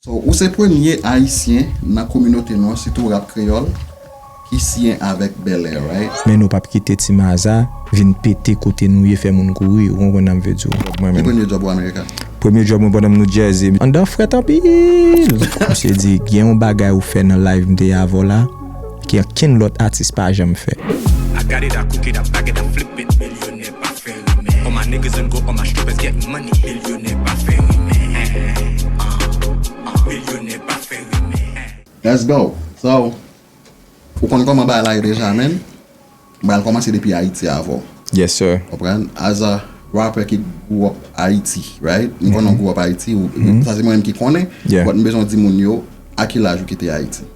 So ou se premye ayisyen nan kominote nou an sitou rap kreyòl ki siyen avèk Belair right? Men nou pap kite ti maza vin pete kote nou ye fè moun kouri ou konprann sam vle diw. Ki premye job ou America? Premye job mwen pandan m New Jersey. Andan an frèt anpil! Misye di gen yon bagay ou fè nan live m te ye avèw la ke ankenn lòt atis pa janm fè. pa fè rimè All my niggas and go all my strippers getting money Milyonè pa fè rimè Milyonè pa fè rimè. Let's go! So, ou konn kòman bagay la ye deja man. Bagay la kòmanse depi Ayiti avè w. Yes sir. Konprann? As a rapper ki grew up Ayiti, right? M konnen w grew up Ayiti, sa se mwen menm ki konnen, but m bezwen w di moun yo a ki laj ou kite Ayiti?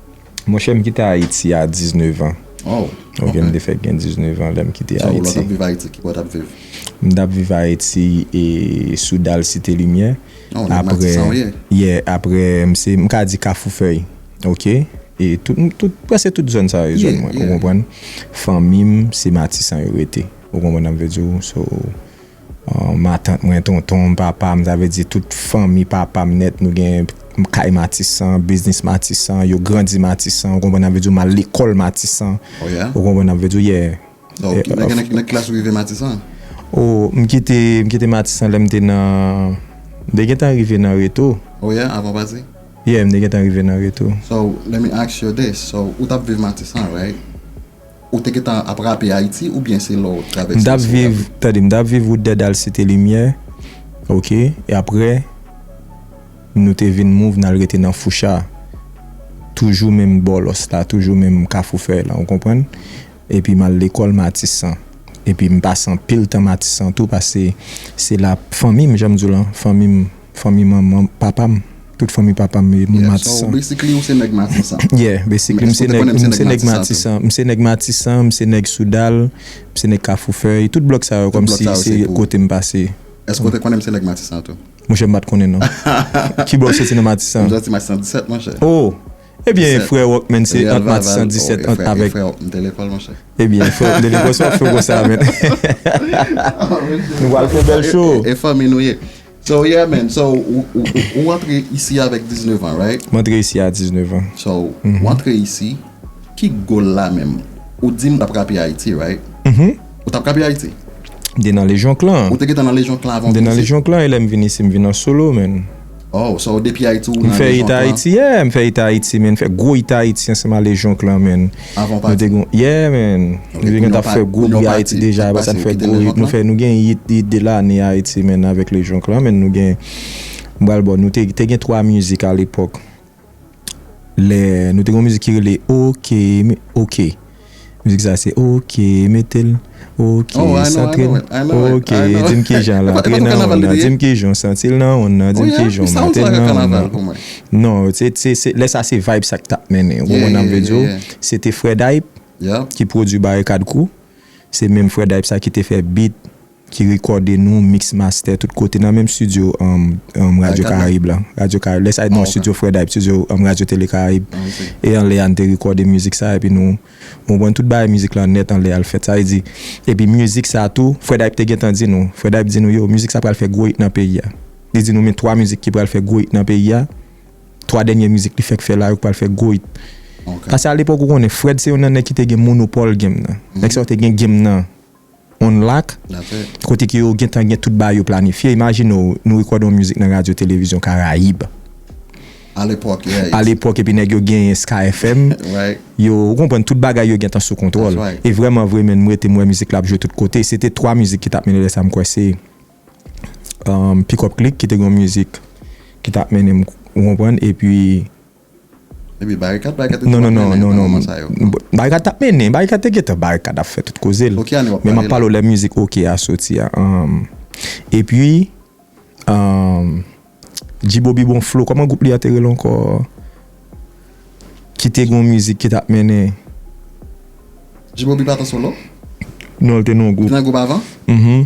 Monchè, m kite Ayiti a 19 an. Waw! Ok, m te fèk gen 19 an lè m kite Ayiti. Jan wou lò t ap viv Ayiti? Ki bò w t ap viv? M t ap viv Ayiti e sou dal Site Limyè. Oh, nèg Matisan w ye? Yeah, apre m se, m ka di Kafoufèy. Ok? E tout, tout, prèske tout zòn sa yo e zòn mwen. Ou konprann? Fanmi m se Matisan yo rete. Ou konprann sa m vle di w? So, Matant mwen, tonton m, papa m, sa vle di tout fanmi papa m nèt, nou gen kay Matisan, biznis Matisan, yo grandi Matisan, ou konprann, sa vle di ou m al lekòl Matisan, ou konprann sa m vle di ou, yeah. Ok, nan ki klas ou rive Matisan? O, m kite, m kite Matisan lè m te nan, m te gentan rive nan Reto. O yeah, avan w pati? Yeah, m te gentan rive nan Reto. So, let me ask you this, so ou t ap viv Matisan, right? Ou te gentan ap rape Ayiti oubyen se lè w travèse Ayiti w rape? M t ap viv, tande, m t ap viv Wout Dèdal Site Limyè, ok, e aprè nou te vin move n al rete nan Foucha, toujou menm Bòlòs la, toujou menm Kafou Fèy la, ou konprann? Epi m al lekòl Matisan, epi m pase anpil tan Matisan tou pase se la fanmi m, jan m di w lan, fanmi m. Fanmi manman, papa m, tout fanmi papa m e moun Matisan. Yeah, so basically ou se nèg Matisan. Yeah, basically m se nèg, m se nèg Matisan, m se nèg Matisan, m se nèg Soudal, m se nèg Kafoufèy, tout blòk sa yo kòmsi se kote m pase. Èske ou te konnen m se nèg Matisan tou? Monchè m pa t konnen non. Ki bò ou soti nan Matisan? M soti Matisan 17 monchè. Oh! Ebyen frè Rockman se ant Matisan 17 ant avèk. E frè Rockman te lekòl monchè? Ebyen frè Rockman te lekòl, sa w ap fè w konsa menn? Nou pral fè bèl show! E fanmi nou ye. So yeah man, so ou antre isi avèk 19 ans right? M antre isi a 19 ans. So ou antre isi, ki goal la menm? Ou dim tap rape Haiti right? Uhmm. Ou tap rape Haiti? M te nan Legion Clan. Ou te gentan nan Legion Clan avan ou vin isi? M te nan Legion Clan e lèm vin isi m vin an solo man. Oh, so depi Haiti ou nan Legion Clan? M fè hit Haiti yeah, m fè hit Haiti man, m fè gwo hit Haiti ansanm a Legion Clan man. Avan w pati? Nou te gen yon, yeah man! Nou te gentan fè gwo bri Ayiti deja, aprè sa nou fè gwo hit, nou fè, nou gen hit, hit de lane a Ayiti man avèk Le Jonk lan man, nou gen, m pral ba w, nou te, te gen 3 mizik a lepòk, lè, nou te gen yon mizik ki rele Oke, me, oke, mizik sa se Oke, mete l. Ok, santre l Ok, di m kijan l antre nan wonn nan Di m kijan w santi l nan wonn nan Di m kijan w mete l nan wonn nan Non, lè sa se vibe sa k t ap mennen Ou konprann sa m vle di w Se te Frè Dayp ki pwodui Barikad Crew Se menm Frè Dayp sa ki te fè beat Ki rekòde nou, mix master tout kote Nan menm studio Radyo Karayib la Radyo Karayib, lè sa, non, studio Frè Dayp Studio Radyo Tele Karayib E anlè a n te rekòde mizik sa Epi nou Mwen konprann tout bagay mizik lan nèt anlè al fèt. Sa vle di, epi mizik sa tou, Fred Hype te gentan di nou, Fred Hype di nou yo, mizik sa pral fè gwo it nan peyi a. Li di nou men 3 mizik ki pral fè gwo it nan peyi a, 3 dènye mizik li fèk fè la yo ki pral fè gwo it. Pase alepòk ou konnen, Fred se youn nan nèg ki te gen monopòl game nan. Nèg sa yo te gen game nan. on lak, kote ke yo gentan gen tout bagay yo planifye. Imajine w, nou rekòde yon mizik nan radyo televizyon Karayib, alepòk epi nèg yo genyen Sky FM, yo, ou konprann, tout bagay yo gentan sou kontwòl. E vrèman vre menn, m rete m wè mizik la ap jwe tout kote. Se te 3 mizik ki t ap mennen lè sa, m kwè se Pick Up Click ki te gen yon mizik ki t ap mennen, ou konprann, epi. Epi barikad barikad te konn ap mennen nan moman sa yo. Non non non barikad tap mennen barikad te gentan barikad ap fè tout kozel men map pale w lè mizik ok a soti a epi G-bobby bon flow kòman gwoup li a te rele ankò ki te gen yon mizik ki tap mennen G-bobby pat an solo? Non li te nan yon gwoup. Li te nan gwoup avan? Mh.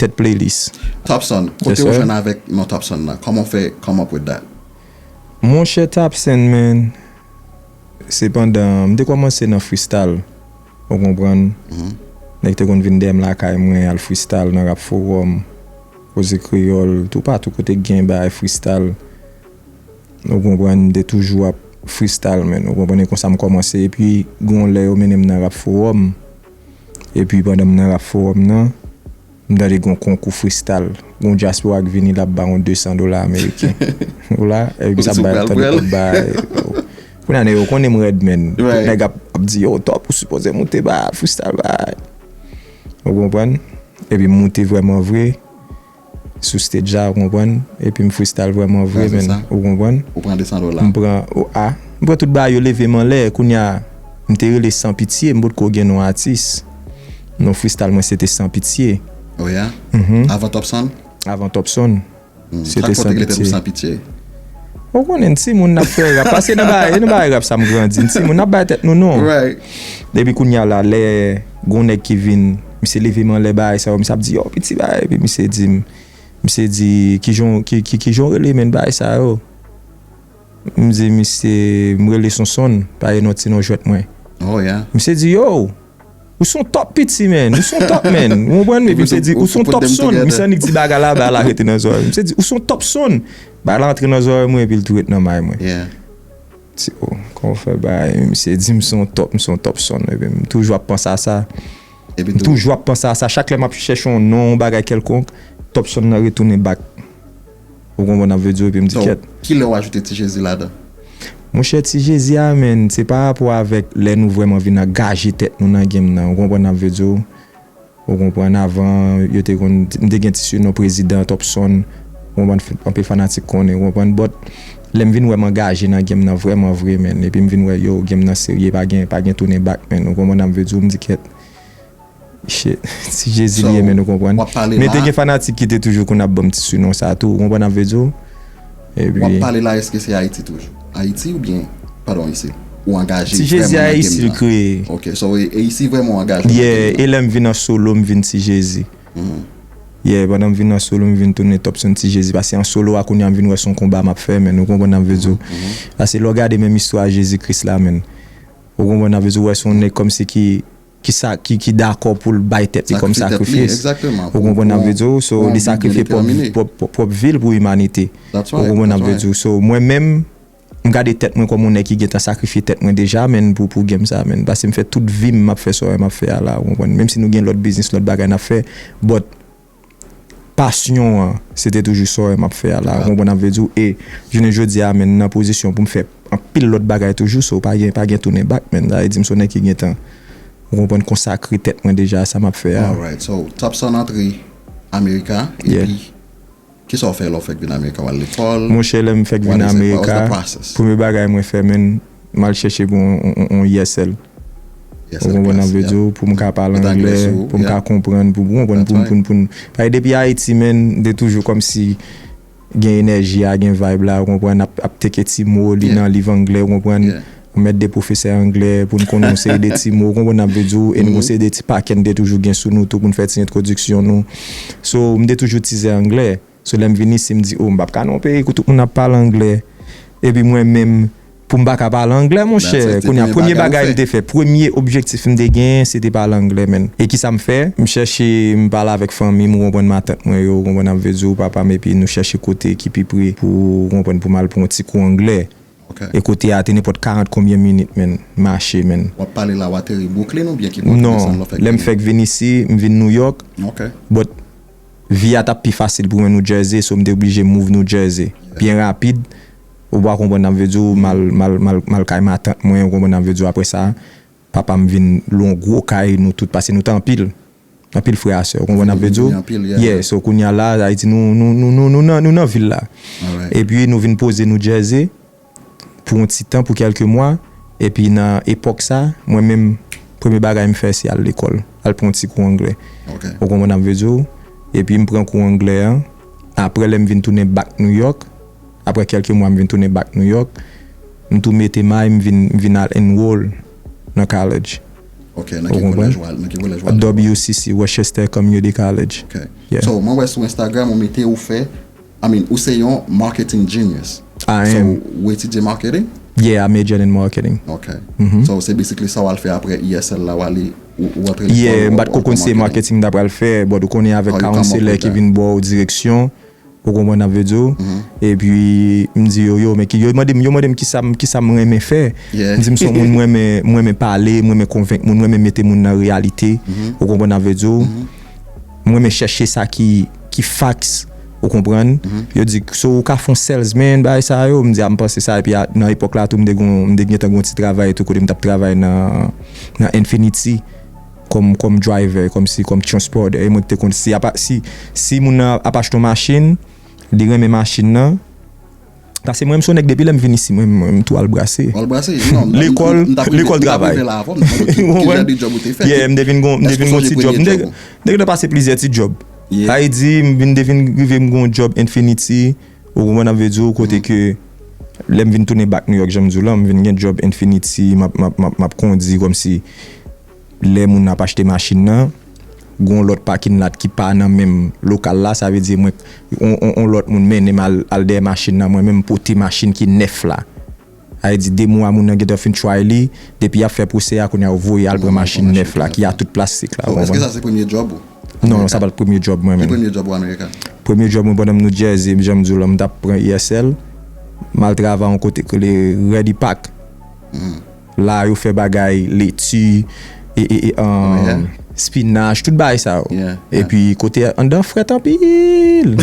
tèt playlist. Topson, kote ou jwenn avèk non Topson nan? Kòman w fè come up with that? Monchè Tapsen men se pandan m te kòmanse nan fristal ou konprann nèg te konn vin dèyè m lakay mwen al fristal nan rap forum koze kreyòl toupatou kote k gen bagay fristal ou konprann m te toujou ap fristal men ou konprann e konsa m kòmanse epi gen yon lè yo mennen m nan rap forum. Epi pandan m nan rap fowòm nan, m tande gon konkou fristal. Gon dyaspora k vini l ap ba ou 200 dola ameriken. Ou la? Epi sa bay antann yo konn bay. Kounya nèg yo konnen m rèd menn. Tout nèg ap di yo Top ou sipoze moute ba fristal ba. Ou konprann? Epi m moute vrèman vre. Sou stage la ou konprann epi m freestyle vrèman vre menn ou konprann m pran m pran tout bagay yo leve m anlè kounya m te rele san pitye m potko gen non atis non freestyle mwen se te san pitye avan topson avan topson se te san pitye ou konnen n timoun n ap fè rap paske nan bagay rap sa m grandi n timoun n ap bay tèt nou non epi kounya la lè gon nèg ki vin. Misye leve m anlè bagay sa yo, misye ap di yow piti bagay epi misye di m, misye di kijan w rele menn bagay sa yo? M di misye m rele Sonsonn, pa gen yon ti non jwèt mwen. Misye di yow, ou son top piti menn, ou son top menn, ou konprann? Epi misye di ou son top sonn, misye annik di bagay la, bagay la rete nan zòrèy m. Misye di ou son top sonn, bagay la antre nan zòrèy mwen epi l tou ret nan may mwen. Tio, kòman w fè bagay menm? Misye di m se yon top, m se yon top son. Epi m toujou ap panse a sa. Epi tou. M toujou ap panse a sa. Chak lè m ap chèche yon non, yon bagay kèlkonk, top son nan retounen bak. Ou konprann sa m vle di w? Epi m di kèt. Donk, ki lè w ajoute Ti Jezi ladan? Monchè, Ti Jezi a menn, se pa rapò avèk lè nou vrèman vin angaje tèt nou nan game nan. Ou konprann sa m vle di w? Ou konprann avan yo te konn m te gen ti sinon prezidan topson ou konprann anpe fanatik konnen ou konprann but lèm vin wè m angaje nan game nan vrèman vre menn epim vin wè yow game nan serye pa gen pa gen tounen back menn ou konprann am vle diw m di kèt shit si jezi li ye menn ou konprann men te gen fanatik ki te toujou konn ap banm ti sinon sa tou ou konprann am vle diw. Wap pale la eske se ayiti toujou ayiti ou byen padon isi ou angaje vrèman nan game nan ti jezi ayiti l kreye ok so isi vrèman ou angaje nan game nan yeah elèm vin an solo m vin ti jezi yeah pandan m vin an solo m vin tounen top son ti jezi pase an solo a kounya m vin wè son konba map fè menn ou konprann sam vle di w pase lè w gade menm istwa jezi kris la menn ou konprann sam vle di w wè son nèg kòmsi ki ki sa ki dakò pou l bay tèt li kòm sakrifis ou konprann sa m vle di w so li sakrifye pwòp vi l pou imanite ou konprann sa m vle di w so mwen menm m gade tèt mwen kòm yon nèg ki gentan sakrifye tèt mwen deja menn pou game sa menn paske m fè tout vi m m ap fè sa w wè m ap fè a la ou konprann menm si nou gen lòt biznis lòt bagay n ap fè but. Pasyon an, se te toujou sa e m ap fè a la. Ou konprann sa m vle di w? E jounen jodi a men m nan pozisyon pou m fè anpil lòt bagay toujou so pa gen pa gen tounen bak men. Sa vle di m se yon nèg ki gentan ou konprann konsakre tèt mwen deja a sa m ap fè a. Alright so Topson antre Amerika epi ki sa w fè lè w fèk vin Amerika? W al lekòl? Monchè lè m fèk vin Amerika premye bagay mwen fè men M al chèche pou yon ESL. Ou konprann sa m vle di w? Pou m ka pale angle, pou m ka konprann, pou ou konprann, pou n. Paske depi Ayiti men, m te toujou kòmsi gen enèji a, gen vayb la, ou konprann, n ap teke ti mo, li nan liv angle, ou konprann, ou mèt de pwofesè angle pou n konnen yon seri de ti mo, ou konprann sa m vle di w? E n gen yon seri de ti pakè n te toujou gen sou nou tou pou n fè ti entwodiksyon nou. So, m te toujou tizè angle. Se lè m vin isi m di oh m pap ka nan yon peyi kou tout moun ap pale anglè epi mwen menm pou m pa ka pale anglè monchè kounye a premye bagay m te fè premye objektif m te genyen se te pale anglè menn e kisa m fè m chèche m pale avèk fanmi m ou konprann matant mwen yo ou konprann ap vle di w papa m epi nou chèche kote ki pi pre pou ou konprann pou m al pran yon ti kou anglè e kote a te nenpòt 40 konbyen minit menn mache menn. Wap pale la ou ateri Brooklyn oubyen ki bò nan San Lò fèk vini? Non lè m fèk vin isi m vin Nouyòk but. Vi a t ap pi fasil pou mwen New Jersey, so m te oblije move New Jersey byen rapid, ou ba konprann sa m vle di w, m al kay matant mwen, ou konprann sa m vle di w, aprè sa, papa m vin lwe yon gwo kay, nou tout, pase nou te anpil, anpil frè a sè, ou konprann sa m vle di w, yeah, so kounya la, sa vle di nou nan vil la, epi nou vin poze New Jersey. pou yon ti tan, pou kèlke mwa, epi nan epòk sa, mwen menm, premye bagay m fè se al lekòl, al pran yon ti kou anglè. Ou konprann sa m vle di w? Epi m pran kou anglè an, aprè lè m vin tounen bak Nouyòk, aprè kèlke mwa m vin tounen bak Nouyòk, m tou mete may m vin m vin al enroll nan college. Ok, nan ki kolèj ou al? Nan ki kolèj ou al lekòl? WCC, Worcester Community College. Ok. So, mwen wè sou Instagram ou mete ou fè. I mean ou se yon marketing genius. I am. So ou etidye marketing? Yeah I majored in marketing. Ok. So se basically sa wal fè apre ESL la wale ou antre lekòl. Yeah m pat ko konn se marketing m ta pral fè but ou konnen avèk counselor ki vin baw direksyon ou konprann sa m vle diw epi m di yo yo men ki yo mande m yo mande m kisa m renmen fè m di m son moun m renmen pale m renmen konvenk moun m renmen mete moun nan reyalite ou konprann sa m vle diw. M renmen chèche sa ki ki facts ou konprann. Yo di so ou ka fon salesman bagay sa yo, m di a m panse sa epi a nan epòk la tou m te gon m te gentan gon ti travay tou kote m tap travay nan nan Infinity kòm kòm driver kòm si kòm transporter e mwen ki te konn si apa si si moun nan ap achte yon machin li renmen machin nan Pase mwen m son nèg depi lè m vin isi mwen tou al brase. Ou al brase? Non, m tap rive m tap rive la avan men ki jan de djòb ou te fè tou? M te vin gon premye djòb. M te gen tan pase plizyè ti djòb. Ayiti m vin te vin rive m gon djòb Infinity ou konprann sa m vle di w kote ke lè m vin tounen back New York jan m di w lan m vin gen djòb Infinity m ap m ap m ap kondi kòmsi Lè moun ap achte machin nan, gen yon lòt pakin lat ki pa nan menm lokal la, sa vle di mwen, yon lòt moun mennen m al dèyè machin nan, mwen menm m pote machin ki nèf la. Sa vle di 2 mwa moun nan gentan fin try li, depi y ap fè pwosè a, kounye a yo voye al pran machin nèf la ki a tout plastik la, ou konprann? Èske sa se premye djòb ou? Non, sa pa t premye djòb mwen menm. Ki premye djòb ou America? Premye djòb mwen pandan m Nou Jersey, jan m di w lan, m t ap pran ISL, m al travay yon kote ki rele Ready Pack. La yo fè bagay leti, spinach, tout bagay sa yo. E pi kote a, anndan frèt anpil.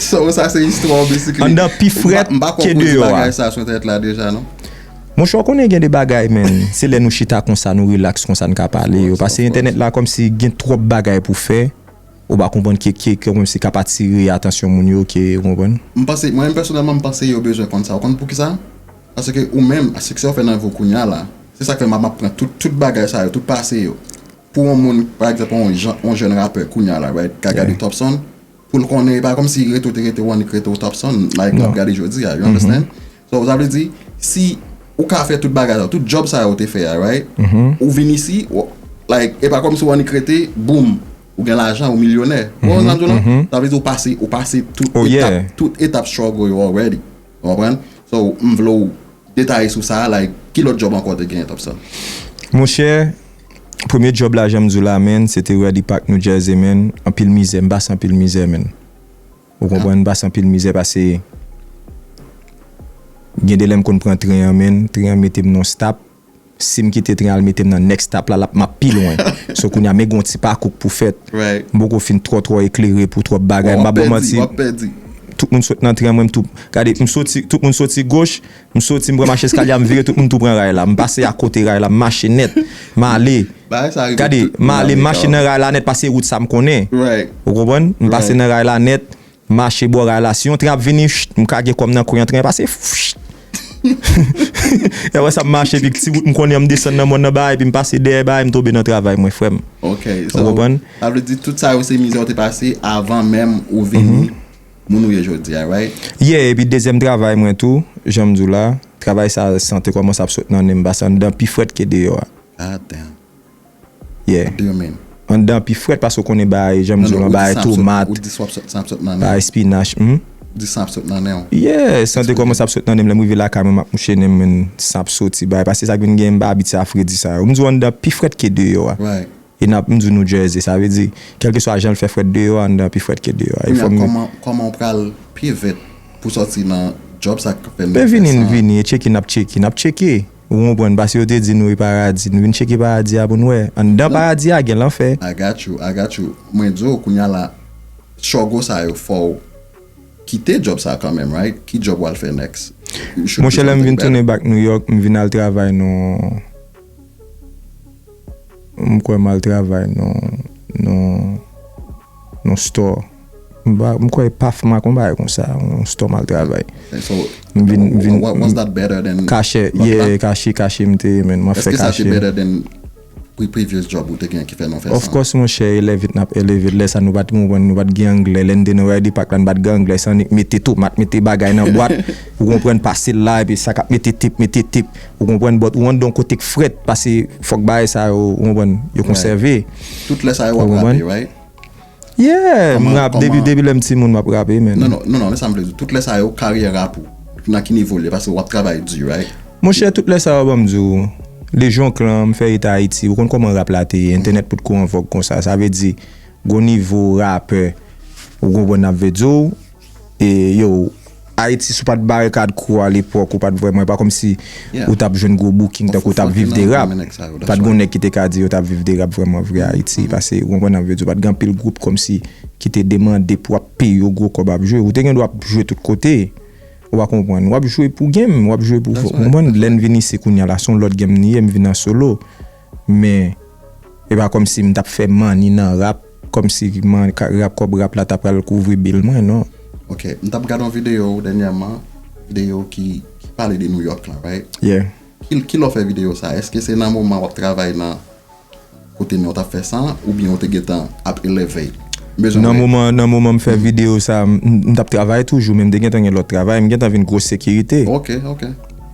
So sa se istwa ou bisikli. Anndan pi frèt ke deyò a. Mpa konpon di bagay sa sou entènèt la deja non. Monchè ou konnen gen de bagay men, se lè nou chita konsa, nou relax konsa n ka pale yo. Pase entènèt la kòmsi gen twòp bagay pou fè. ou pa konprann ke ke kòmwem se kap atire atansyon moun yo ke ou konprann. M panse, mwen menm pèsonèlman m panse yo bezwen konn sa ou konn poukisa? Paske ou menm a siksè ou fè nan vi w kounye a la se sak fè m ap pran tout tout bagay sa yo tout pase yo pou yon moun pa egzanp yon jan yon jèn rapè kounye a la right ka gade Topson pou l konnen e pa kòmsi rete ou te rete ou annik rete ou Topson like l ap gade jodi a you understand so sa vle di si ou ka fè tout bagay sa yo tout djòb sa yo ou te fè a right ou vin isi like e pa kòmsi ou annik rete boom Ou gen lajan, ou milyonè. Ou konprann sa m di w la? Sa vle di ou pase, ou pase tout etap, tout etap struggle yo already. Ou konprann? So, m vle w detaye sou sa, like, ki lòt djòb ankò w te genyen, Topson? Monchè, premye djòb la, jan m di w la, man, se te Rally Park New Jersey, man. Anpil mizè, m pase anpil mizè, man. Ou konprann? M pase anpil mizè pase gen de lè m konn pran tren an, man. Tren an mete m nan yon stop. Sim kite tren al metem nan next stop la lap map pi lwen so kounya men gon ti pakou k pou fèt m poko fin twò twò eklere pou twòp bagay m pap baw manti tout moun sot nan tren mwen m tou gade m soti tout moun soti goch m soti m pran mache eskalye a m vire tout moun tou pran ray la m pase akote ray la m mache nèt male gade male m mache nan ray la nèt paske se wout sa m konnen ou konprann m pase nan ray la nèt Mache bò ray la si yon tren ap vini m ka gen kò m nan kwen yon tren pase e wè sa m mache epi ti wout m konnen an m desann nan mòn nan ba epi m pase dèyè ba e m tonbe nan travay mwen frè m ou konprann. Sa vle di tout sa yo se mizè ou te pase avan menm ou vini moun ou ye jodi a right? Yeah epi dezyèm travay mwen tou jan m di w la travay sa san te kòmanse ap sot nan nen m pase anndan pi frèt ke deyò a. God damn. Yeah. Demen. Anndan an pi frèt paske ou konnen bagay janm di w lan bagay tomat. Ou di san ap sot san ap sot nan nen w. Bagay spinach humm. Di san ap sot nan nen w. Yeah san te kòmanse ap sot nan nen m lè m rive lakay mwen m ap mouche nen mwen san ap soti bagay paske se sa k vin gen m ba abit sa fredi sa yo. M di w anndan an pi frèt ke deyò a. Right. E n ap m di w New Jersey sa vle di kèlkeswa jan l fè frèt deyò a anndan an pi frèt ke deyò a. Kounya kòman kòman w pral pi vèt pou w sòti nan job sa k fè n nan fè san. Lè vini n vini e tcheke n ap tcheke n ap tcheke. Ou konprann, paske yo te di nou e paradi. Nou vin cheke paradi a pou n wè. Anndan paradi a gen lanfè. I got you, I got you. Mwen di w kounya la, struggle sa yo fè w kite job sa kanmenm right? Ki job w al fè next? You should do something better. Monchè lè m vin tounen back New York, m vin al travay nan, m kwè m al travay nan, nan. Yon store m kwè paf mak yon bagay konsa yon store mal travay m vin m vin kache yeah kache kache m te ye men map fè kache. Of course monchè elèv it nap eleve lè sa nou pat konprann nou pat gen anglè lè n te nan Ridley Park la n pat gen anglè se annik mete tomat mete bagay nan bwat ou konprann pase l la epi sa kap mete tep mete tep. Ou konprann but ou andon kote k frèt pase fòk bagay sa yo ou konprann yo konsève. Tout lè sa yo wap rape right? Yeah m rap depi lèm ti moun map rape man. Non non non esam vle di tout lè sa yo karyè rap ou nan ki nivo l ye pase wap travay di right? Monchè tout lè sa yo banm di w lejyon klan m fè eta ayiti ou konn kòman rap la te ye entènèt pot ko anvòg konsa sa vle di gon nivo rapè ou konprann nap vle di w. E yo, Ayiti si w pa t barikad kou w alepòk ou pa t vrèman, e pa kòmsi ou t ap jwenn gwo booking tankou w t ap viv de rap. Pa t gen yon nèg ki te ka di yo t ap viv de rap vrèman vre Ayiti pase, ou konprann sa m vle di w, pa t gen anpil gwoup kòmsi ki te demande pou ap peye yo gwo kòb ap jwe. Ou te gen dwa ap jwe tout kote, ou pa konprann. W ap jwe pou game, w ap jwe pou, ou konprann? Lè n vin isi kounye a la, se yon lòt game li ye, m vin an solo. Men, e pa kòmsi m t ap fè manni nan rap, kòmsi man, rap, kòb rap la ta pral kouvri bil mwen, non. Ok, m t ap gad yon videyo w dènyèman, videyo ki pale de Nouyòk lan, right? Yeah. Kilè w fè videyo sa a? Èske se nan moman w ap travay nan kote men w t ap fè sa an, oubyen ou te gentan ap elevate? Nan moman, nan moman m fè videyo sa a, m t ap travay toujou, men m te gentan gen lòt travay, m gentan vin gwo sekirite. Ok, ok.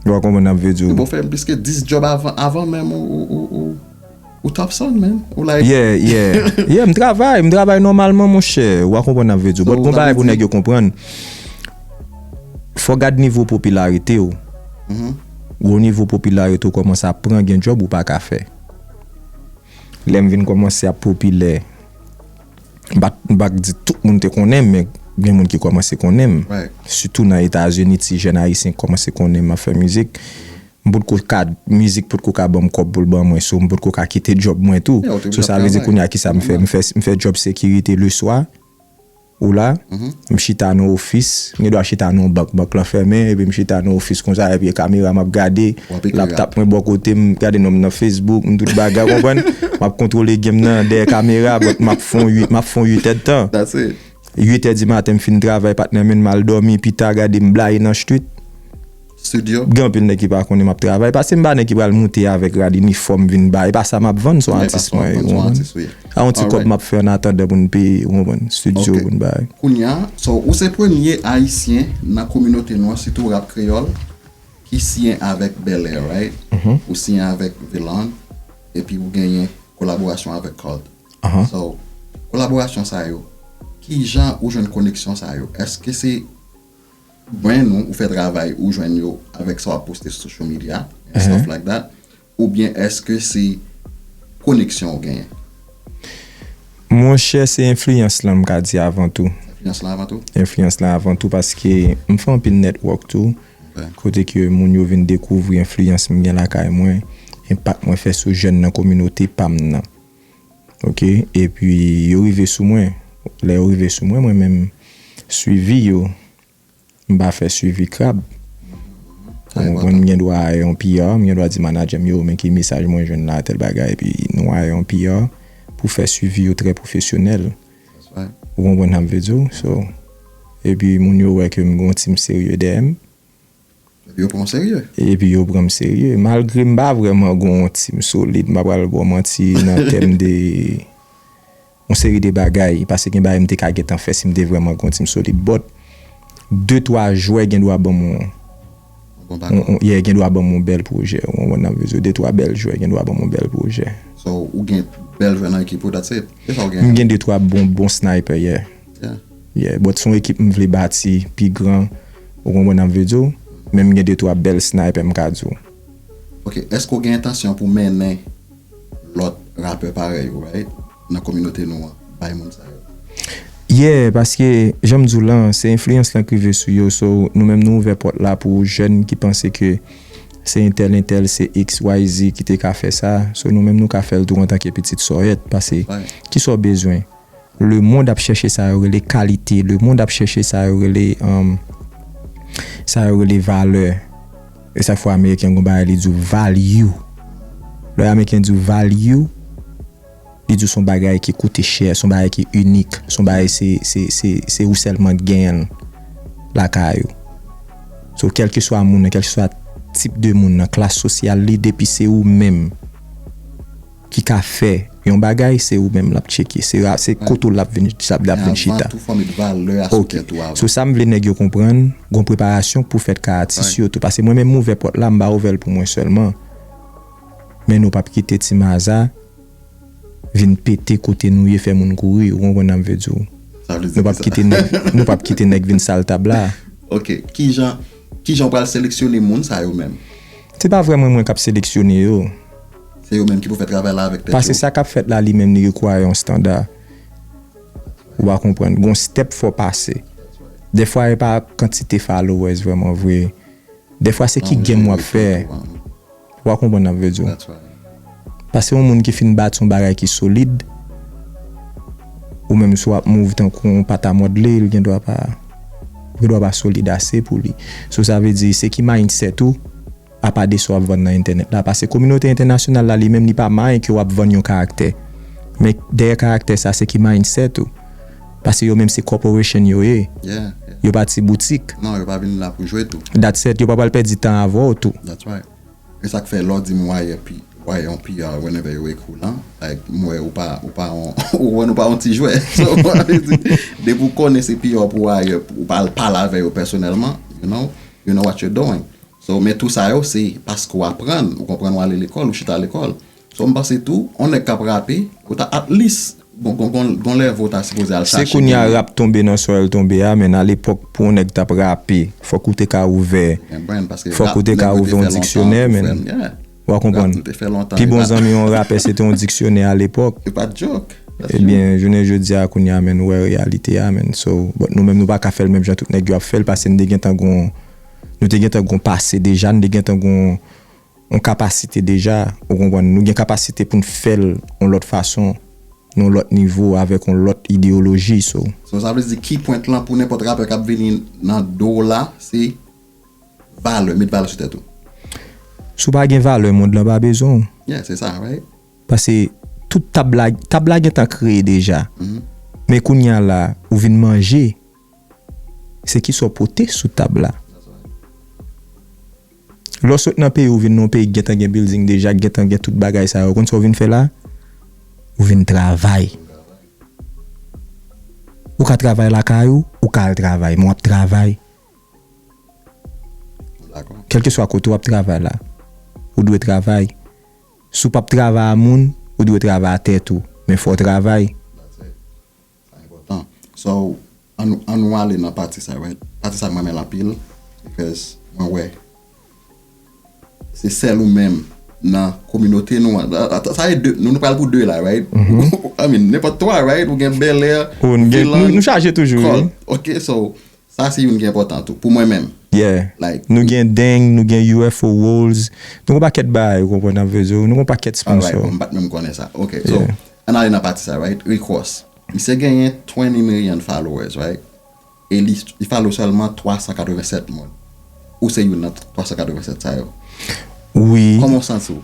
Yo pa konprann ap vle di ou. Bon fè pliske 10 job avan menm ou top son menn. Yeah yeah yeah m travay m travay nòmalman monchè ou pa konprann ap vle di ou but gon bagay pou nèg yo konprann fò gad nivo popilarite ou gwo nivo popilarite ou kòmanse ap pran gen job ou paka fè lèm vin kòmanse ap popilè M pa k di tout moun te konnen m men gen moun ki kòmanse konnen m. Sitou nan Etazini ti jèn ayisyen kòmanse konnen m ap fè mizik. M pot ko ka, mizik pot ko ka ban m kòb pou l ban mwen so m pot ko ka kite djòb mwen tou. So sa vle di kounye a kisa m fè? M fè djòb sekirite leswa, ou la, M chita nan ofis, m gen dwa chita nan yon bank, bank lan fèmen, epi m chita nan ofis konsa, epi gen kamera m ap gade, laptap mwen bò kote m, m ap gade nonm nan Facebook, m tout bagay, ou konprann? M ap kontwole game nan dèyè kamera, but m ap fè yon 8, m ap fè yon 8 èd tan. 8 è di maten m fin travay patnè men m al dòmi pita gade m blayi nan street. studio. Gen anpil nèg ki pa konnen map travay paske m pa nèg ki pral moute avèk rad inifòm vin bay e pa sa map vann son atis mwen ye ou konprann se yon ti kòb map fè annatandan pou n peye ou konprann studio pou n bay. Ok kounya so ou se premye ayisyen nan kominote nou an sitou rap kreyòl ki siyen avèk Belair right ou siyen avèk Velond epi ou genyen kolaborasyon avèk Cult so kolaborasyon sa yo kijan ou jwenn koneksyon sa yo eske se jwenn ou, ou fè travay ou jwenn yo avèk sa wap poste sou social media and stuff like that oubyen èske se koneksyon ou genyen? Monchè se enfliyans lan m ka di avan tou. Enfliyans lan avan tou? Enfliyans lan avan tou paske m fè anpil network tou kote ke moun yo vin dekouvri enfliyans m gen lakay mwen, enpak mwen fè sou jèn nan kominote pa m nan. ok epi yo rive sou mwen lè yo rive sou mwen mwen menm swivi yo m pa fè swivi krab ou konprann m gendwa aye yon PR m gendwa di manadjè m yo men ki mesaj mwen jwenn la tèl bagay epi nou aye yon PR pou fè swivi yo trè pwofesyonèl ou konprann sa m vle di w epi moun yo wè ke m gen yon team serye dèyè m. Epi yo pran w serye. Epi yo pran m serye. Malgre m pa vrèman gen yon team solid, m pa pral ba w manti, nan tèm de yon seri de bagay. Pase gen bagay m te ka gentan fè si m te vrèman gen yon team solid. But, de twa jwè gen dwa ban m yon, yeah, gen dwa ban m yon bèl pwojè. Ou konprann sa m vle di w? De twa bèl jwè gen dwa ban m yon bèl pwojè. So, ou gen bèl jwè nan ekip ou, that's it? Se sa ou gen? M gen de twa bon, bon sniper, yeah. Yeah but son ekip m vle bati pi gran ou konprann sa m vle di w men m gen de twa bèl sniper m ka di w. Ok eske w gen entansyon pou mennen lòt rapè parèy ou right nan kominote nou an bay moun sa yo? Yeah paske jan m di w lan se enfliyans lan k rive sou yo so nou menm nou ouvè pòt la pou jèn ki panse ke se entèl entèl se xyz ki te ka fè sa so nou menm nou ka fè l tou antanke pitit sòyèt pase kisa w bezwen Lemond ap chèche sa yo rele kalite, lemond ap chèche sa yo rele, sa yo rele valè. E sak fè ameriken gen yon bagay li di w value. Lè ameriken di w value, li di w se yon bagay ki koute chè, se yon bagay ki inik, se yon bagay se, se, se, se ou sèlman ki genyen l lakay ou. So kèlkeswa moun nan, kèlkeswa tip de moun nan, klas sosyal li, depi se ou menm. ki ka fè yon bagay se ou menm lap tcheke se ra se kote w lap vin sa lap vin chita. Men avan tou fò w met valè a sou tèt ou avan. Ok so sa m vle nèg yo konprann gon preparasyon k pou fèt ka atis yo tou pase mwen menm m ouvè pòt la m pa ouvè l pou mwen sèlman men nou pap kite ti maza vin pete kote nou ye fè moun kouri ou konprann sa m vle di w nou pap kite nèg nou pap kite nèg vin sal tab la. Ok kijan. Kijan ou pral seleksyone moun sa yo menm? Se pa vrèman mwen kap seleksyone yo. Se yo menm ki pou fè travay la avèk tèt yo. Pase sa kap fèt la li menm li require yon standa. Ou pa konprann. Gon step fò pase. Dèfwa e pa kantite followers vrèman vre. Dèfwa se ki game wap fè. Wa konprann nap vle diw. Pase yon moun ki fin bati yon bagay ki solid, ou menm si wap move tankou yon pat a mòdle li gen dwa pa, ou gen dwa pa solid ase pou li. So sa vle di se ki mindset ou apa de sa wap vann nan entènèt la. Pase kominote entènasyonal la li menm li pa mind ke wap vann yon karaktè. Men dèyè karaktè sa se ki mindset ou. Pase yo menm se corporation yo ye. Yo pa ti boutik. Non, yo pa vin la pou jwe tou. Dat sèt, yo pa pral pèdi tan avè w tou. That's right. E sa k fè lè w di m why a pi, why on PR whenever yo ekri w lan, like m wè ou pa, ou pa on, ou wè nou pa on ti jwè. So, m anvi di, depi w konnen se PR pou why a, ou pa al pale avè yo pèsonèlman, you know, you know what you're doing. So, men tou sa yo se paske w aprann, ou konprann w ale lekòl, ou chita lekòl. So m panse tou, on nèg kap rape, ou ta at least bon gon gon gon level ou ta sipoze al Se chache kounye a genyen. rap tonbe nan sa l tonbe a men alepòk pou on nèg tap rape fòk ou te ka ouvè Ou gen brenn paske fòk ou rap te nèg ka yo te ouvè on fè lontan diksyonè tou men. frèm yeah. Wa Rap konprann. nou te fè lontan Pi e bon pat zanmi on rapè se te on diksyonè alepòk. e pat joke, that's true. Ebyen jounen jodi a kounye a men nou wè reyalite a men so but nou menm nou pa ka fè l menm jan tout nèg yo ap fè l pase n te gentan gon nou te gentan gon pase deja n te gentan gon yon kapasite deja, ou konprann, nou gen kapasite pou n fè l yon lòt fason, nan yon lòt nivo, avèk yon lòt ideyoloji, so. So sa vle di key point lan pou nenpòt rapè k ap vini nan do w la se valè, met valè sou tèt ou? Si w pa gen valè mond lan pa bezwen w. Yeah, se sa, right? Pase tout tab la, tab la gentan kreye deja, men kounya la ou vin manje. Se kisa w pote sou tab la. Lè w sot nan peyi w vin nan yon peyi ki gentan gen bilding deja, ki gentan gen tout bagay sa yo, ou konn sa w vin fè la? Ou vin travay. Ou ka travay lakay ou, ou ka al travay, men w ap travay. Kèlkeswa kote w ap travay la, ou dwe travay. Si w p ap travay a moun, ou dwe travay a tèt ou, men fò w travay. Sa enpòtan so an nou ale nan pati sa right pati sa m renmen l anpil because mwen wè se sèl ou menm nan kominote nou an sa e 2 nou pral pou 2 la right I mean nenpòt 3 right ou gen bèlè ou gen nou chaje toujou ok so Sa se youn ki enpòtan tou, pou mwen menm. Yeah. Like. Nou gen deng, nou gen UFO rolls, nou gen yon pakèt bagay ou konprann nan veze yo, nou gen yon pakèt sponsor. Alright, bon m pat menm konnen sa. Ok, so, ann ale nan pati sa right, Rick Ross. Misye genyen 20 million followers right, e li follow sèlman 387 moun. ou se youn nan 387 sa yo. Wi. Kòman w santi w?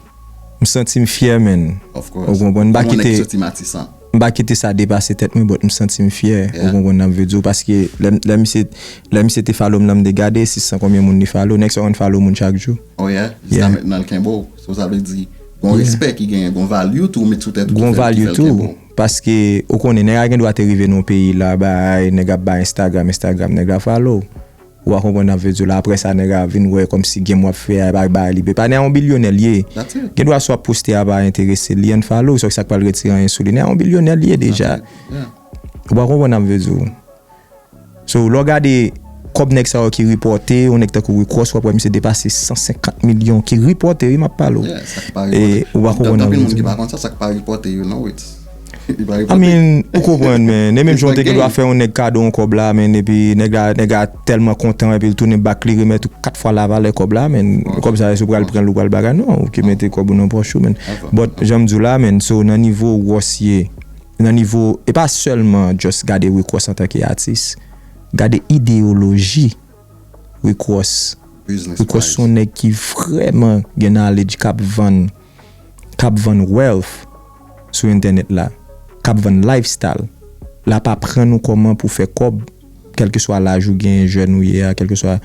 M santi m fyè menn. Of course. Ou konprann? M pa kite. Kòman w nèg ki soti Matisan? M pa kite sa depase tèt mwen but m santi m fyè. Yeah. Ou konprann sa m vle di w? Paske lè m, lè misye, lè misye te follow m lan m te gade 600 konbyen moun li follow. Nèg sa yo konn follow moun chak jou. Oh yeah? Yeah. Jiska mentnan l kenbe w. So sa vle di gon respè ki genyen, gon value tou ou met sou tèt ou ki fè, ki fè l kenbe w. Gon value tou. Paske ou konnen nèg la gendwa te rive nan yon peyi la bay, nèg ap bay Instagram, Instagram nèg la follow w. Ou pa konprann nap vle diw la aprè sa nèg a vin wè kòmsi game wap fè a epa bay li bè pa nè a yon bilyonè liye gen dwa sa wap poste a pa enteresel li unfollow sa sak pral retire anyen sou li nè a yon bilyonè liye deja ou pa konprann nap vle diw so lè w gade kòb nèg sa yo ki ripòte yon nèg tankou rikòs wap wè misye depase 150 milyon ki ripòte wi map pale w ou pa konprann nap vle diw. I mean ou konprann men ne menm jan ou te gen dwa fè yon nèg kado yon kòb la men epi nèg la nèg la tèlman kontan epi li tounen bak li remèt ou 4 fwa lavalè kòb la men kòb sa èske ou pral pranl ou pral bagay non ou ke mete kòb ou nan pòch ou men but janm diw la men so nan nivo Ross ye nan nivo e pa sèlman just gade Rick Ross antanke atis gade ideyoloji Rick Ross Rick Ross son nèg ki vrèman gen knowledge kap vann. k ap vann wealth sou entènèt la, k ap vann lifestyle, l ap aprann ou kòman pou fè kòb, kèlkeswa laj ou genyen, jèn ou ye a, kèlkeswa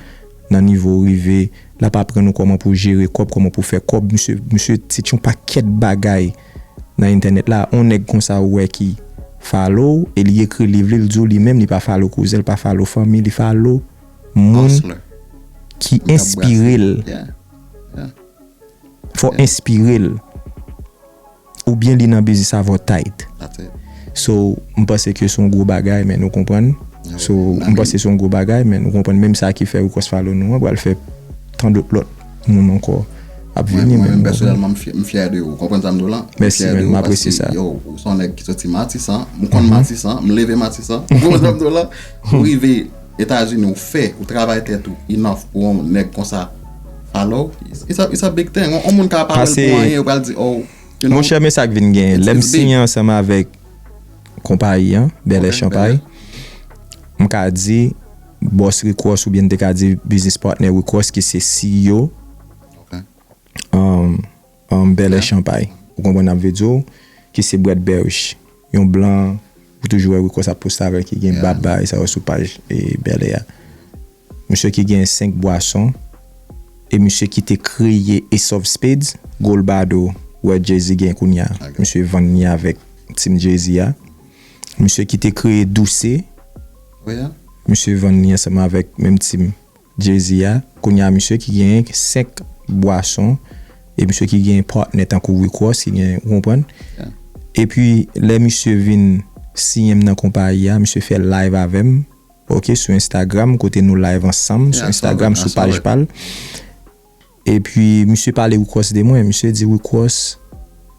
nan nivo ou rive, l ap aprann ou kòman pou jere kòb, kòman pou fè kòb. Misye, misye teach yon pakèt bagay nan entènèt la. On nèg konsa ou wè ki follow ou e li ekri liv li, li di w li menm li pa follow kouzen, li pa follow fanmi, li follow moun ki enspire l. fò enspirel ou byen li nan biznis avò tayt so m panse ke son gwo bagay men nou konprann so m panse son gwo bagay men nou konprann menm sa ki fè request follow nou an pral fè tandot lòt moun ankò ap vini mwen menm pèsonèlman m fyè de ou konprann sa m di w lan mèsi menn m apresye sa yo ou son nèg ki soti matisan m konn matisan m leve matisan ou konprann sa m di w lan ou rive Etazini ou fè ou travay tèt ou enough pou yon nèg konsa follow ou it's a big thing yon moun ka pa wèl pou anyen yo pral di oh you know. Monchè men sak vin genyen lèm siyen ansanm avèk konpayi an Bèlè Chanpay m ka di boss Rick Ross oubyen m te ka di business partner Rick Ross ki se CEO An bèlè chanpay. Ou konprann nap vle diw ki se Brett Berich. Yon blan ou toujou wè Rico sa poste avèl ki gen bab bagay sa yo sou paj bèlè a. Misye ki gen 5 bwason e misye ki te kreye Ace of Spades, gold bado wè Jay-Z gen kounya misye vann li avèk team Jay-Z a. Misye ki te kreye Douce misye vann li ansanm avèk menm team. Jay-Z a, kounye a misye ki genyen 5 bwason e misye ki genyen partner tankou Rick Ross ki genyen, ou konprann? Epi lè misye vin siyen m nan konpayi a, misye fè live avè m, ok, sou Instagram kote nou live ansanm sou Instagram sou paj pa l. Epi misye pale Rick Ross de mwen, misye di Rick Ross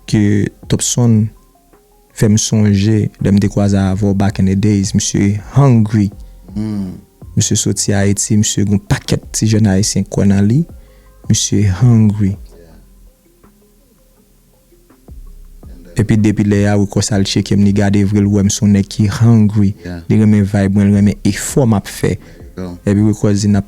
ke Topson. fèm sonje lèm te kwaze avèw back in the days misye hungry misye soti ayiti misye gon pakèt ti jèn ayisyen kwè nan li misye hungry epi depi lè ya Ricos al tchekem li gade vre li wèm son nèg ki hungry li renmen vibe mwen li renmen efò map fè epi Ricos di nap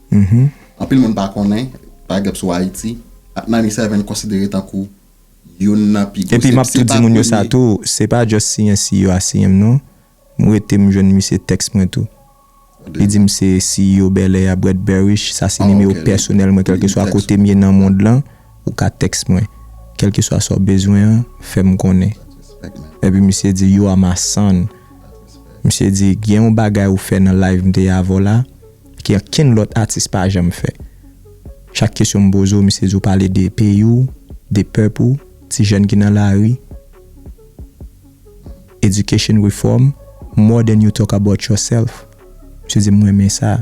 Anpil moun pa konnen, Pagep sou Ayiti, Atnani Seven konsidere tankou youn nan pi gwo, se pa premye. Epi map tou di moun yo sa tou, se pa just siyen CEO a siyen m non, m rete m jwenn misye tèks mwen tou. Li di m se CEO Belair a Brett Berish, sa se nimewo pèsonèl mwen kèlkeswa kote m ye nan mond lan, ou ka tèks mwen. Kèlkeswa sa w bezwen an, fè m konnen. Epi misye di, You are my son. Misye di, gen yon bagay ou fè nan live m te ye avè w la, ke ankenn lòt atis pa janm fè. Chak kesyon m poze w, misye di w pale de peyi w, de pèp ou, ti jèn ki nan lari, education reform, more than you talk about yourself. Misye di m renmen sa.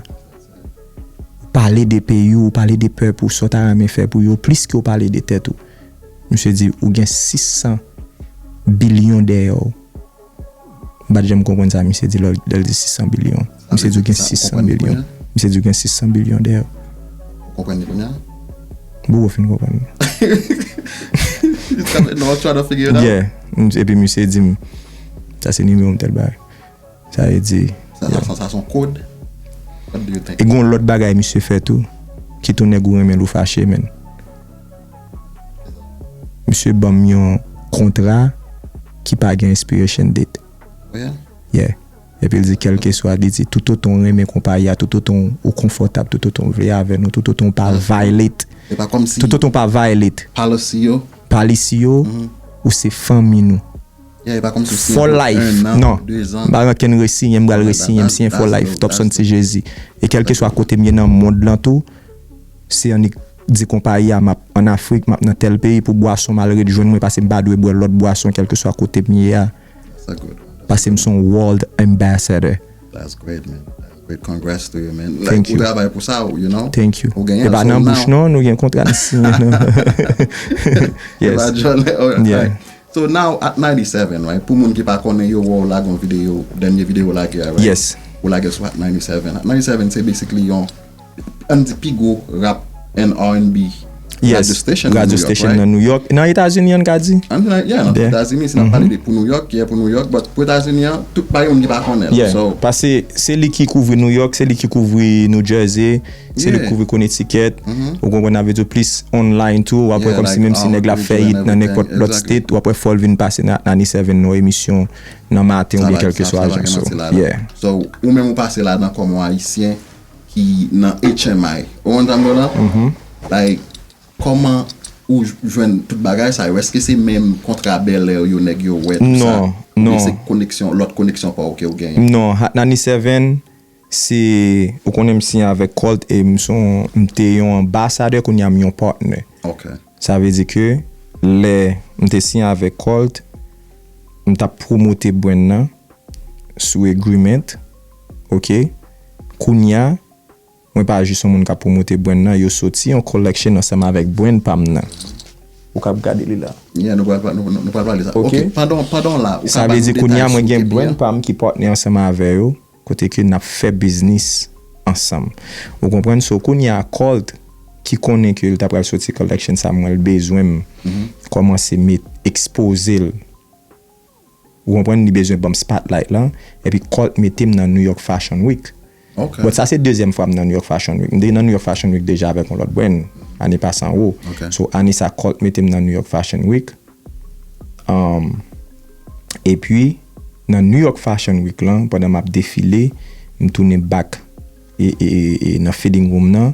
Ou pale de peyi w, ou pale de pèp ou, sa w ta renmen fè pou yo, plis ke w pale de tèt ou. Misye di ou gen 600 bilyon dèyè w. M pa t janm konprann sa misye di lè l di 600 bilyon. Misye di w gen 600 bilyon. Misye di w gen 600 bilyon dèyè w. Ou konprann li kounye a? Bouke w fin konprann li. Jiskaprezan w ap try to figure it out? Yeah. Epi misye di m, sa se nimewo m tèl bagay. Sa vle di. Sa son kod? What do you think? E gen yon lòt bagay misye fè tou ki tounen gou renmen l ou fache menn. Misye banm yon kontra ki pa gen expiration date. Yeah. Epi l di kèlkeswa, li di toutotan w renmen konpayi a, toutotan ou konfòtab, toutotan w vle avè nou, toutotan w pa violate, toutotan w pa violate policy yo, policy yo, ou se fanmi nou. Yeah, e pa kòmsi w siyen pou 1 an, 2 an. Non. M pa rankin resiyen, m pral resiyen, m siyen for life, Topson T-Jerzy. E kèlkeswa kote m ye nan mond lan tou, se annik. Di konpayi a, Map an Afrik, map nan tèl peyi pou bwason m al ret jwenn mwen pase m pa dwe bwè lòt bwason kèlkeswa kote m ye a pase m se yon world ambassador. Thank you. Thank you. E pa nan bouch non, nou gen kontra n siyen nan. Yes. Yes. Ann di pi gwo rap and RNB radyo station nan New York, right? Yes, radyo station nan New York. Nan Etazini an n ka di? Ann di nan, yeah, nan Etazini, si n ap pale de pou New York, yeah, pou New York, but pou Etazini an, tout pa gen moun ki pa konnen l, so. Yeah, pase se li ki kouvri New York, se li ki kouvri New Jersey, se li ki kouvri Connecticut, ou konprann sa m vle di w, plis online tou, w ap wè kòmsi menm si nèg la ap fè hit nan nenpòt lòt state, w ap wè fò l vin pase nan 97 nan yon emisyon nan maten oubyen kèlkeswa jan, so, yeah. So, ou menm ou pase ladan kòm yon Ayisyen ki nan HMI ou konn sa m di w la like kòman ou jwenn tout bagay sa yo èske se menm kontra bèlè yo nèg yo wè tout sa oubyen se koneksyon lòt koneksyon pa w ke w genyen. Non Hatnani Seven se ou konnen m siyen avèk Colt e m son m te yon anbasadè kounye a m yon partner sa vle di ke lè m te siyen avèk Colt m t ap pwomote brand nan sou agreement. ok kounya mwen pa jis yon moun kap promote brand nan yo soti yon collection ansanm avèk brand pam nan ou kap gade li la. Yeah nou pral nou pral pale sa ok pandan pandan w la ou ka ba nou detay sou kepi a. Sa vle di kounya mwen gen brand pam ki partner ansanm avè yo kote ke nap fè biznis ansanm ou konprann so kounya Colt ki konnen ke li ta pral soti collection sa mwen l bezwen m kòmanse met ekspoze l Ou konprann li bezwen banm spotlight lan epi Colt metem nan New York Fashion Week. Bon sa se dezyèm fwam nan New York Fashion Week. M te nan New York Fashion Week deja avèk yon lòt brand ane pase an wo. So ane sa Colt metem nan New York Fashion Week. Epi nan New York Fashion Week lan pandan map defile m tounen back nan fitting room nan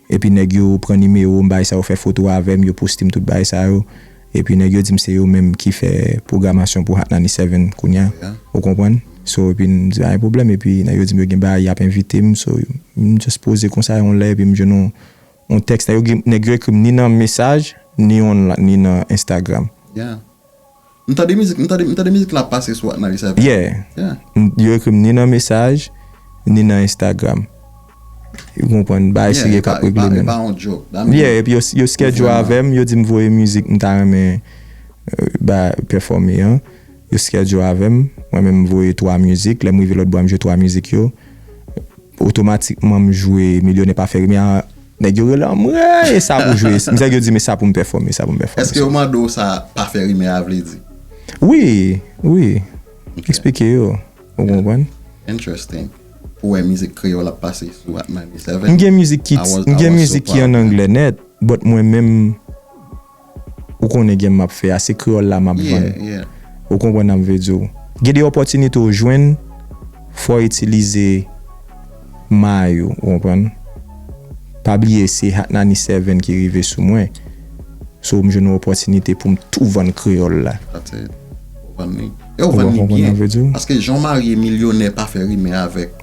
Epi nèg yo pran nimewo m bay sa yo fè foto avè m yo poste m tout bagay sa yo epi nèg yo di m se yo menm ki fè pwogramasyon pou Hot 97 kounya ou konprann so epi m di pa gen pwoblèm epi nèg yo di m yo gen bagay y ap envite m so m just poze konsa yon lè epi m jwenn yon tèks nèg yo ekri m ni nan mesaj ni nan Instagram. M tande mizik m tande m tande mizik lan ap pase sou Atnalie sa epi Yeah yo ekrim ni nan mesaj ni nan Instagram ou konprann bagay serye kap regle menm Yeah epi yo schedule avèm yo dim voye mizik m ta renmen bay pèfòme an yo schedule avèm mwen menm m voye 3 mizik lèm rive lòtbò a m jwe 3 mizik yo otomatikman m jwe milyonè pa fè rimè a. Nèg yo rele anmweyy e sa pou jwe e nèg yo di men sa pou m pèfòme sa pou m pèfòme. Eske yo mande w sa pa fè rimè a vle di? Wi, wi, eksplike yo, ou konprann. Interesting. Pou wè mizik kreyòl ap pase sou Atmani 7. M gen mizik ki an anglè nèt, but mwen menm. Ou konnen game map fè a, se kreyòl la map vann. Ou konprann am vle diw. Gen de opòtinite ou jwenn fòw itilize may ou, ou konprann. Pa bliye se Hatnani Seven ki rive sou mwen, so m jwenn yon opòtinite poum tou vann kreyòl la. That's it. Ou vann li. E ou vann li byen. Paske jan w marye milyonè pa fè rime avèk.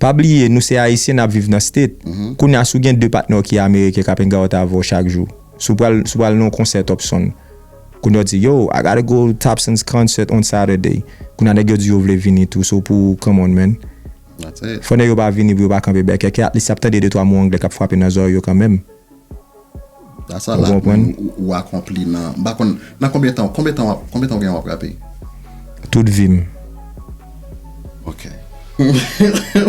Pa bliye nou se ayisyen nap viv nan state kounya si w gen 2 patnè w ki ameriken kap enga w ta avè w chak jou si w pral si w pral nan yon konsè topson kounya w di yo I gotta go topson's concert on saturday kounya nèg yo di yo vle vini tou so pou w come on man fò nèg yo pa vini pou yo pa kanpe bèkèkè at least yap tande 2 3 mo anglè kap frape nan zorèy yo kanmèm. Da sa la konprann ou akonpli nan m pa konn nan konbyen tan konbyen tan wap konbyen tan ou gen wap rape. Tout vi m. Ok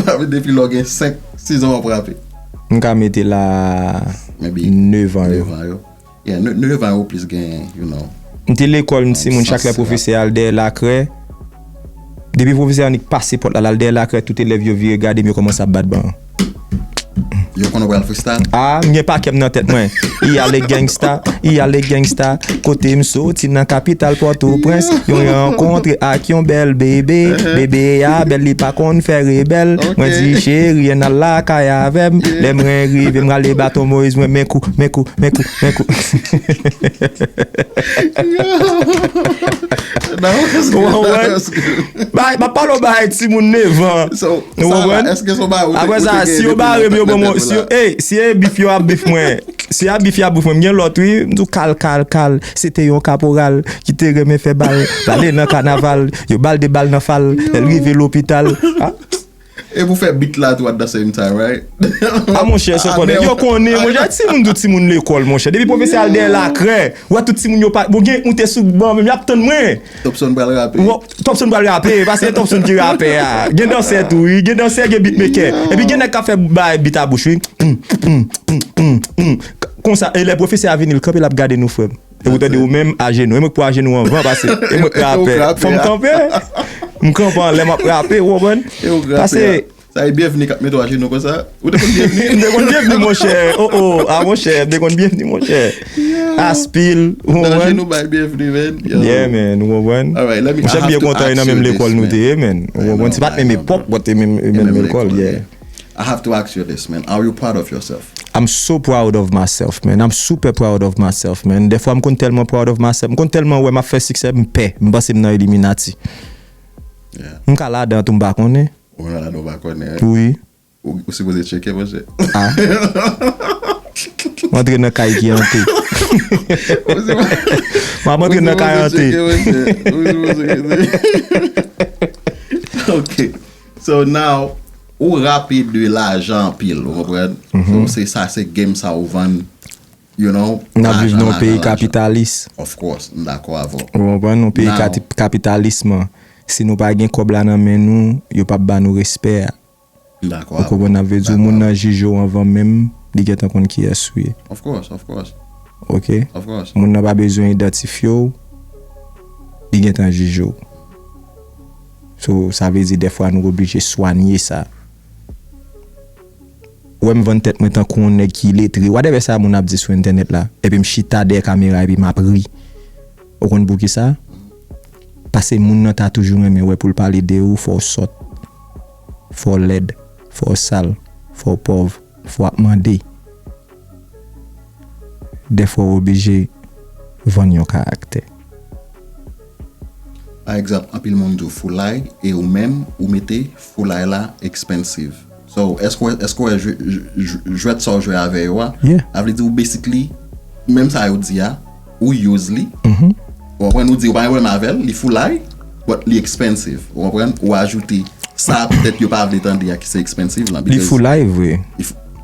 Papi depi lè w gen 5 6 an wap rape. M ka mete la 9 an yo. 9 an yo Yeah 9 an yo ou plis gen you know. M te lekòl m t timoun chak lè pwofesè al dèyè lakrè. Depi pwofesè Annik pase pòt la, l al dèyè lakrè, tout elèv yo vire gade m, yo kòmanse ap bat ban an. Yo konnen w pral freestyle? A, m gen pakè m nan tèt mwen. I ale gangsta, i ale gangsta, kote m soti nan kapital Pòtoprens, yon rankontre ak yon bèl bebe, bebe a bèl li pa konn fè rebèl, mwen di cheri an al lakay avè m, lè mwen rive m rale baton Moyiz mwen men kou, men kou, men kou. Men kou. M ap pale w bagay timoun nevan. Ou konprann? Apre sa, si yo bare m yo ban m yon. Si e bif yo ap bif mwen. Si a bif y ap bif mwen. M gen lòt wi. M di w kal kal kal. Se te yon kaporal. Ki te renmen fè bal. L ale nan kanaval. Yo ba l de bal nan fal. Lè l rive lopital. E pou fè beat la tou at the same time right. A monchè se konnen yo konnen monchè a timoun tout timoun lekòl monchè depi pwofesè al dèyè lakrè wè tout timoun yo pa bon gen ou te sou ban menm yap tann mwen Topson pral rape. Topson pral rape epa se topson ki rapè a gen dansè tou wi gen dansè gen beat mekè epi gen nèg kap fè bay beat a bouch wi humm humm humm humm humm konsa e lè pwofesè a vini l kanpe lap gade nou frè m. Epi ou tande ou menm ajenou. E mwen k pou ajenou anvan pase e mwen k rapè. Fò m kanpe. M kanpe anlè m ap rape, ou konprann? E ou k rapè. Pase. Sa e Bienvenu k ap mete ou ajenou konsa? Ou te konn Bienvenu? M te konn Bienvenu monchè. O o, a monchè, m te konn Bienvenu monchè. Aspil, ou konprann? Ou te ajenou bay Bienvenu men. Yeah man, ou konprann? Alright, let me, I have to ask you this man. Monchè m byen kontan e nan menm lekòl nou te ye man. Ou konprann? Se pa t menm epòk, but e menm lekòl, yeah. I have to ask you this man, are you proud of yourself? I'm so proud of myself man, I'm super proud of myself man, dèfwa m konn tèlman proud of myself, m konn tèlman wè m ap fè siksè m pè, m panse m nan illuminati. M ka ladan tou m pa konnen. Ou menm ladan ou pa konnen wi. Wi. Ou sipoze tcheke monchè. M antre nan kay ki ante. M ap antre nan kay ante. Ou sipoze tcheke monchè. Ou sipoze tcheke monchè. Ok. So now ou rapid wi lajan anpil ou konprann so se sa se game sa ou vann you know lajan lajan lajan. Nap viv nan yon peyi kapitalis. Of course m dakò avè w. Ou konprann yon peyi kapitalisman si nou pa gen kòb la nan men nou yo pap ba nou respè a. M dakò avè w. Ou konprann nap vle di w moun nan jije w anvan menm li gentan konn kiyès ou ye. Of course of course. Ok of course. Moun nan pa bezwen idantifye w li gentan jije w. So sa vle di dèfwa nou oblije swanye sa. Ou wè m vann tèt mwen tankou yon nèg ki iletre, whatever sa moun ap di sou entènèt la, epi m chita dèyè kamera epi m ap ri. Ou konn poukisa? Pase moun nan ta toujou renmen wè pou l pale de ou fò w sòt, fò w lèd, fò w sal, fò w pòv, fò w ap mande. Dèfwa ou oblije vann yon karaktè. Pa egzanp anpil moun di w foulay e ou menm ou mete foulay la expensive. So èske w èske w wè jwèt sa w jwe avè yo a? A vle di ou basically menm sa yo di a ou use li ou konprann ou di ou pa gen pwoblèm avè l li foulay but li expensive ou konprann ou ajoute sa petèt yo pa vle tande a ki se expensive lan because. Li foulay vre.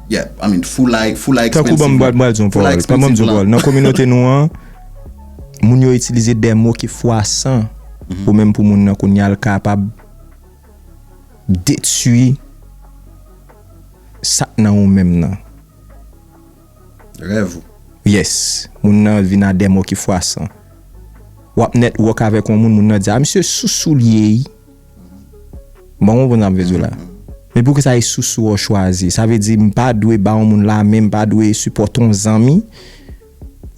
Yeah I mean foulay foulay expensive lan. Tankou banm banm di yon pawòl banm banm di yon pawòl nan kominote nou an. Moun yo itilize de mo ki fwasan pou menm pou moun nan kounye a l kapab detui sa k nan ou menm nan. Rèv ou. Yes. Moun nan vin a de mo ki fwasan. W ap network avèk yon moun, moun nan di a misye sou sou l ye wi. Bon w konprann sa m vle di w la. Men pou kisa e sou sou w chwazi? Sa vle di m pa dwe ba yon moun lame, m pa dwe sipòte yon zanmi.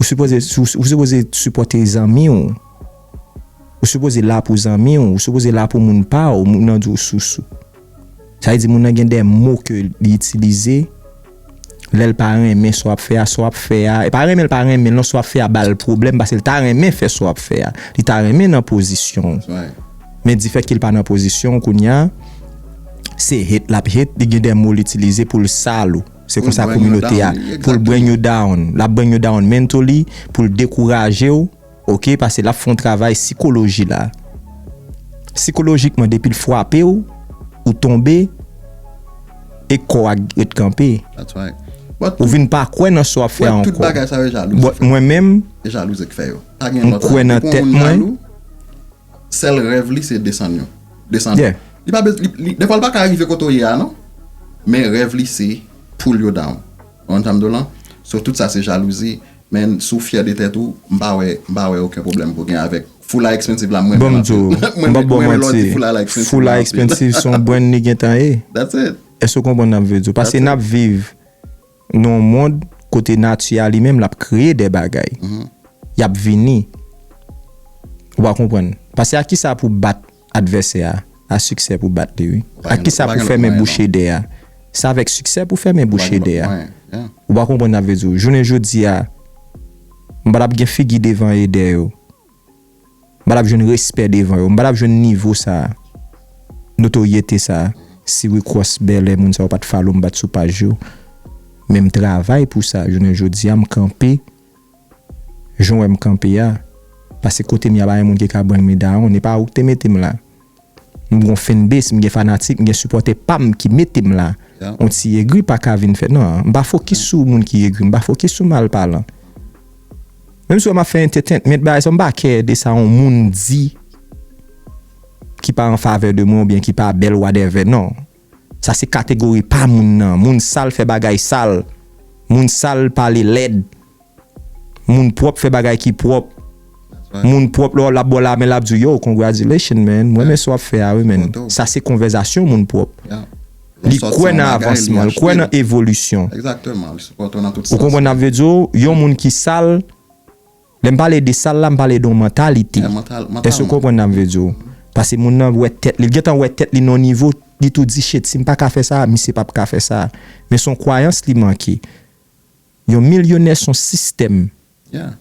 Ou sipoze ou sipoze sipòte zanmi w. Ou sipoze la pou zanmi w. Ou sipoze la pou moun pa w. Moun nan di w sousou. Sa vle di moun nan gen de mo ke li itilize lè l pa renmen sa w ap fè a. Sa w ap fè a, e pa renmen l pa renmen l non. Sa w ap fè a ba l pwoblèm paske l ta renmen fè sa w ap fè a. Li ta renmen nan pozisyon w. Men difèt ke l pa nan pozisyon w kounye a, se hate l ap hate. Li gen de mo l itilize pou l sal ou. Se konsa kominote a poul bring you down lap bring you down mentally poul dekourajew ok pase lap fè yon travay sikoloji la sikolojikman depil fwapew ou tonbe e kò a ret kanpe ou vin pa kwè nan sa wap fè a ankò but mwen menm mkwè nan tèt mwen. Sèl rèv li se desann yo. Desann yo. Li pa bezwen, li, dèfwa li pa ka rive kote w ye a non. Men rèv li se pull yo down. Ou konn sa m di w lan? So tout sa se jalouzi. Men si w fyè de tèt ou, m pa wè, m pa wè oken pwoblèm pou w gen avèk Foula Expensive la m renmen l anpil. Bon m di w, m pap ba w manti, Foula Expensive se yon brand li gentan ye. That's it. Èske w konprann sa m vle di w? Paske n ap viv. Nan yon mond kote nati a li menm l ap kreye de bagay, y ap vini. Ou pa konprann? Pase ak kisa pou bat advèsè a? A siksè pou bat li wi. Ak kisa pou fèmen bouch edè a? Se avèk siksè pou fèmen bouch edè a. Ou pa konprann sa m vle di w? Jounen jodi a, m pa t ap gen figi devan edè yo. M pa t ap jwenn respè devan yo. M pa t ap jwenn nivo sa a, notoryete sa a si Wicross Bèlè moun sa yo pa t follow m, pa t sou paj yo. Men m travay pou sa jounen jodi a, m kanpe jan w wè m kanpe a. Pase kote m y a pa gen moun ki ka ban m medayonn. E pa ou ki te mete m la. M gon fanbase, m gen fanatik, m gen sipòtè pa m ki mete m la. On ti egri pa ka vin fè nan. M pa fokis sou moun ki egri, m pa fokis sou mal palan. Menm si w wè m ap fè entetenment bagay sa, m pa kè de sa on moun di ki pa an favè de mwen oubyen ki pa bèl wadèvè non. Sa se kategori pa moun nan. Moun sal fè bagay sal. Moun sal pale lèd. Moun pwòp fè bagay ki pwòp. Moun pwòp lè w ap ba w lamen l ap di w yow congratulations man m renmen sa w ap fè a wi man. Sa se konvèzasyon moun pwòp. Li kwè nan avansman, li kwè nan evolisyon. Ou konprann sa m vle di w? Yon moun ki sal. Lè m pale de sal la, m pale de yon mantalite. Èske ou konprann sa m vle di w? Pase moun nan wè tèt li, li gen tan wè tèt li nan yon nivo, li tou di shit, si m pa ka fè sa a, misye p ap ka fè sa a. Men se yon kwayans li manke. Yon milyonè se yon sistèm. Yeah.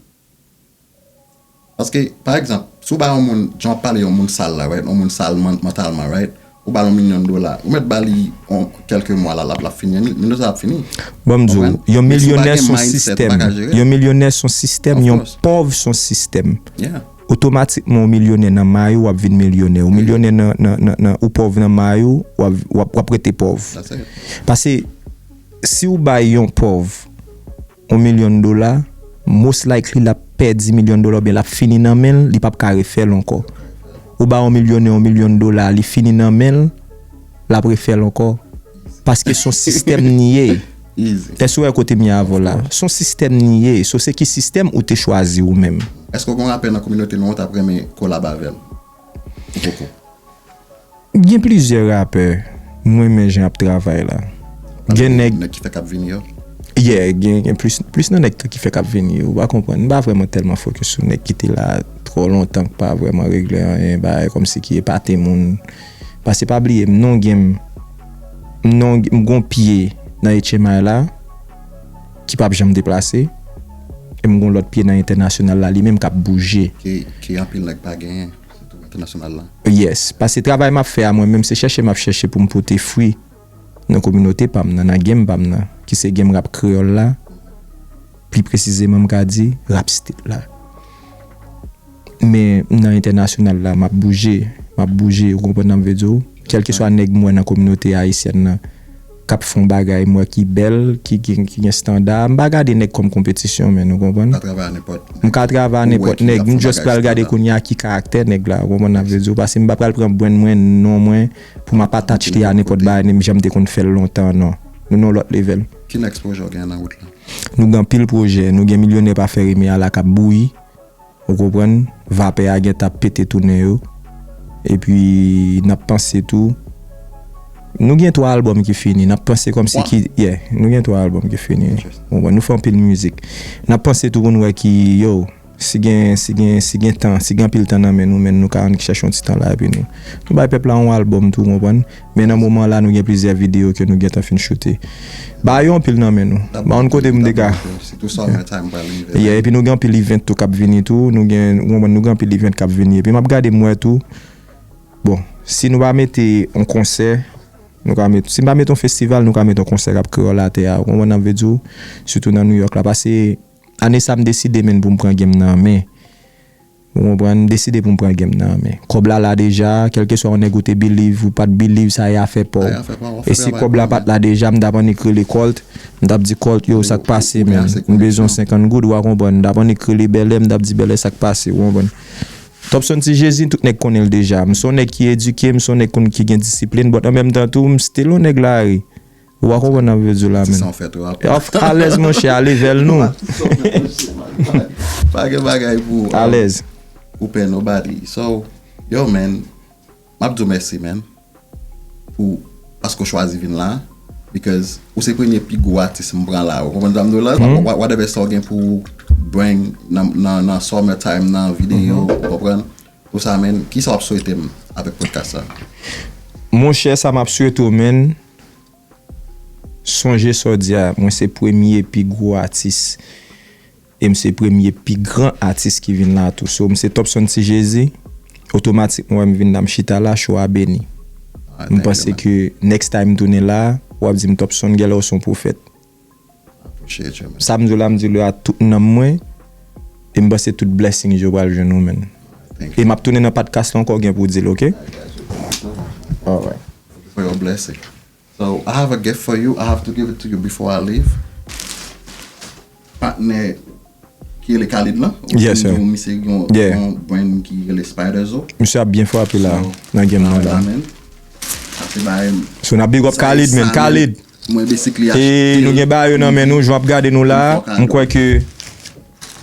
Paske, pa egzanp, si w ba yon moun, jan w ap pale yon moun sal la, right, yon moun sal mantalman, right? Ou bal yon milyon dola. Ou mèt bali yon kèlke mwa la lap fini. Milyon sa ap fini. Banm diw. Yon milyonè son sistèm. Yon milyonè son sistèm. Yon pòv son sistèm. Otomatikman ou milyonè nan may ou wap vin milyonè. Ou milyonè nan ou pòv nan may ou wap rete pòv. Pase si ou bay yon pòv. On million dola, most likely lap pèdi million dola oubyen lap fini nan menl li pap ka refèl ankò. Ou bay on milyonè on million dola li fini nan menl lap refèl ankò paske son sistèm li ye. Èske ou wè kotem ye avèw la? Son sistèm li ye, so se ki sistèm ou te chwazi ou menm? Èske ou gen yon rapè nan kominote nou ou tap renmen kolab avèl? Gen plizyè rapè m renmen jan yap travay la. Gen nèg. Pale de nèg ki fèk ap vini yo? Yeah, gen plis nan nèg ki fèk ap vini yo. Ou pa konprann. M pa vrèman tèlman fokis sou nèg ki te la twò lontan ki pa vrèman regle anyen, bagay kòmsi ki epate moun. Pase pa bliye m non gen m non gen m gon pye nan etchemay la. Ki pap janm deplase. E m gon lòt pye nan entènasyonal la li menm kap bouje. Ke anpil nèg pa genyen. Sitou entènasyonal la. Yes. Pase travay map fè a mwen menm se chèche map chèche pou m pote fwi nan kominote pa m nan, nan game pa m nan. Ki se game rap kreyòl la. Pli presizeman m ka di rap state la. Men nan entènasyonal la map bouje, map bouje ou konprann sa m vle di w. Kèlkeswa nèg m wè nan kominote ayisyèn nan kap fè yon bagay m wè ki bèl, ki gen standa, m pa gade nèg kòm konpetisyon men ou konprann. Ou ka travay a nenpòt nèg. M ka travay a nenpòt nèg, m just pral gade kounye a ki karaktè nèg la ou konprann sa m vle di w pase m pa pral pran brand mwen, non mwen pou map attach li a nenpòt bagay menm jan m te konn fè l lontan an non. Nou nan yon lòt level. Ki next pwojè w genyen nan wout la? Nou gen anpil pwojè, nou gen milyonè pa fè rime a la kap bouyi. Ou konprann? Vapè a gentan ap pete tounen yo. Epi n ap panse tou. Nou gen 3 albòm ki fini. N ap panse kòmsi ki. Yeah. Nou gen 3 albòm ki fini. Ou konprann? Nou fè anpil mizik. N ap panse tou pou n wè ki, yo, si gen, si gen, si gen tan, si gen anpil tan nan men nou, men nou ka annik chèche yon ti tan la epi nou. Nou bay pèp la yon albòm tou, ou konprann? Men nan moman la nou gen plizyè video ke nou gentan fin choute. Ba yo anpil nan men nou. Ba yon kote moun te ka. Yeah epi nou gen anpil event tou kap vini tou. Nou gen, ou konprann, nou gen anpil event kap vini. Epi map gade m wè tou, bon, si nou pa mete yon konsè, nou ka met, si nou pa mete yon festival nou ka mete yon konsè kap kreyòl atè a. Ou konprann sa m vle di w? Sitou nan New York la. Pase ane sa m deside menn pou m pran game nan an men. Ou konprann, m deside pou m pran game nan an men. Kòb la la deja, kèlkeswa yon nèg ou te believe ou pat believe sa e afè pa w. E si kòb la pat la deja, m t ap annik rele Colt, m t ap di Colt yo sa k pase menm, m bezwen 50 goud ou a konprann, m t ap annik rele Bèlè, m t ap di Bèlè sa k pase ou konprann. Topson Ti Jezi tout nèg konnen l deja, m s on nèg ki edike, m s on nèg konn ki gen disiplin but an menm tan tou m still on nèg lari. Ou pa konprann nap vle diw la menn. Tisan ou fèt rap. Ewa fk alèz monchè a level nou. Ewa tisan ou fèt monchè man. Pa gen bagay pou. Alèz. Ou pè nobody. So yo man map diw mèsi man pou paske ou chwazi vin la because ou se premye pi gwo atis m pran la ou konprann sam diw la whatever sa ou gen pou bring nan summer time nan video ou konprann pou sa man kisa wap swetem avèk podcast sa. Monchè sa map swete w man. Sonje sa w di a, mwen se premye pi gwo atis e m se premye pi gran atis ki vin la tou. So, m se Topson Ti Jezi, otomatik mwen wè m vin la, m chita la, show a beni. M panse ke next time m tounen la, w ap di m Topson, genlè w se yon pwofèt. Sam diw la m diw li a tout nanm mwen e m panse tout blessings yo pral jwenn ou man e map tounen nan padcast la ankò gen pou dil ok misye ap byen frape la nan game nan la so nap big up Khalid man Khalid. E nou gen ba yo nan men nou, jan wap gade nou la, m kwè ke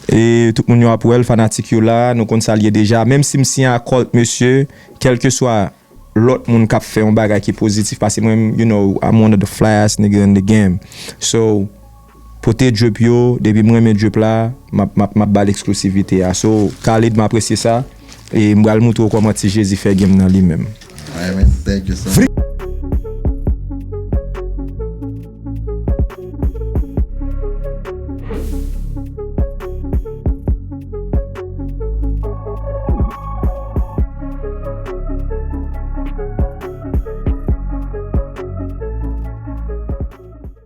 e tout moun yo ap wèl, fanatik yo la, nou konn sal ye deja, menm si m siyen ak Colt mesye, kelke swa lòt moun kap fè yon bagay ki pozitif pase mwen, you know, I'm one of the fly ass nigga in the game, so. Pote drip yo depi m renmen drip la map map map bal exclusivite a so Khalid m apresye sa e m bal moutre w koman ti jezi fè game nan li menm. Alright man thank you so much.